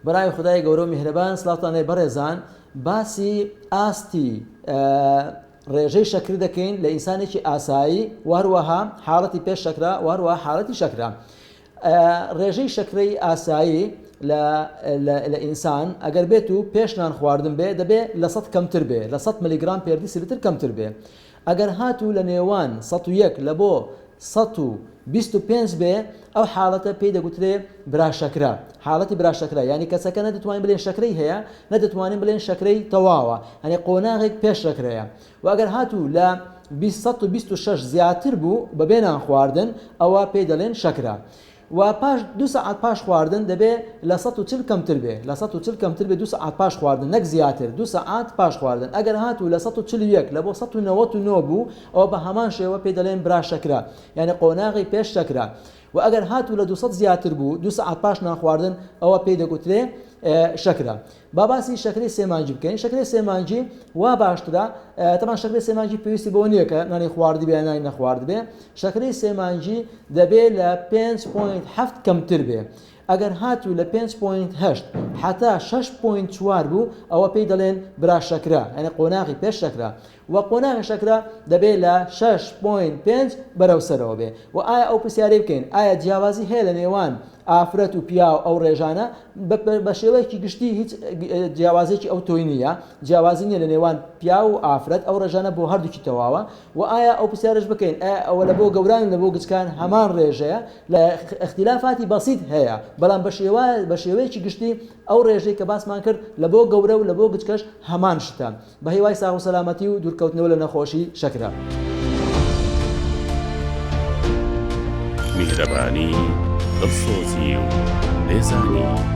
برای خودای گەورەو میهرەبان سلاوتان لێ بەڕێزان باسی ئاستی ڕێژەی شەکر دەکەین لە ئینسانێکی ئاسایی وهروەها حاڵەتی پێش شەکرا وهروەها حاڵەتی شەکرا ڕێژەی شەکرەی ئاسایی لە ئینسان ئەگەر بێت و پێشنان خواردن بێ دەبێ لە سەد کەمتر بێ لە سەد ملیگرام پێردی سلتر کەمتر بێ ئەگەر هاتوو لە نێوان سەد و یەک لە بۆ سەد و بیست و پێنج بێ ئەو حاڵەتە پێی دەگوترێ براشەکرە حاڵەتی براشەکرە یانی کەسەکە نە دەتوانین بلێن شەکرەی هەیە نە دەتوانین بلێن شەکرەی تەواوە یانی قۆناغێک پێش شەکرەیە وە ئەگەر هاتوو لە بیست سەد و بیست و شەش زیاتر بوو بە بێ نان خواردن ئەوە پێی دەلێن شەکرە و پاش دوو سەعات پاش خواردن دەبێ لە سەد و چل کەمتر بێ لە سەد و چل کەمتر بێ دوو سەعات پاش خواردن نەک زیاتر دوو سەعات پاش خواردن ئەگەر هاتوو لە سەد و چل و یەک لە بۆ سەد و نەوەت و نۆ بوو ئەوە بە هەمان شێوە پێی دەڵێن برا شەکرە یانی قۆناغی پێش شەکرە و ئەگەر هاتوو لە دوو سەد زیاتر بوو دوو سەعات پاش نان خواردن ئەوە پێی دەگوترێ شەکرە با باسی شەکرەی سێمانجی بکەین شەکرەی سێمانجی وا باشترە تەمان شەکرەی سێمانجی پێویستی بۆ نییە کە نانی خواردی بێ نانی نەخوارد بێ شەکرەی سێمانجی دەبێ لە 5.7 کەمتر بێ ئەگەر هاتوو لە 5.8 حتا 6.4 بوو ئەوە پێی دەڵێن برا شەکرە یعنی قۆناغی پێش شەکرە وە قۆناغی شەکرە دەبێ لە شەش پۆینت پێنج بەرەو سەرەوە بێ وە ئایا ئەو پرسیارەی بکەین ئایا جیاوازی هەیە لە نێوان ئافرەت و پیاو ئەو ڕێژانە بە شێوەیەکی گشتی هیچ جیاوازێکی ئەو تۆی نییە جیاوازی نییە لە نێوان پیاو و ئافرەت ئەو ڕێژانە بۆ هەردووکی تەواوە وە ئایا ئەو پرسیارش بکەین ئایا ئەوە لە بۆ گەوران و لە بۆ گچکان هەمان ڕێژەیە لە ئختیلافاتی بەسیت هەیە بەڵام بە شێوا بە شێوەیەکی گشتی ئەو ڕێژەی کە باسمان کرد لە بۆ گەورە و لە بۆ گچکەش هەمان شتە بەهیوای ساغ و سەلامەتی و دوورکەوتنەوە لە نەخۆشی شەکرە. میهرەبانی دڵسۆزی و لێزانی.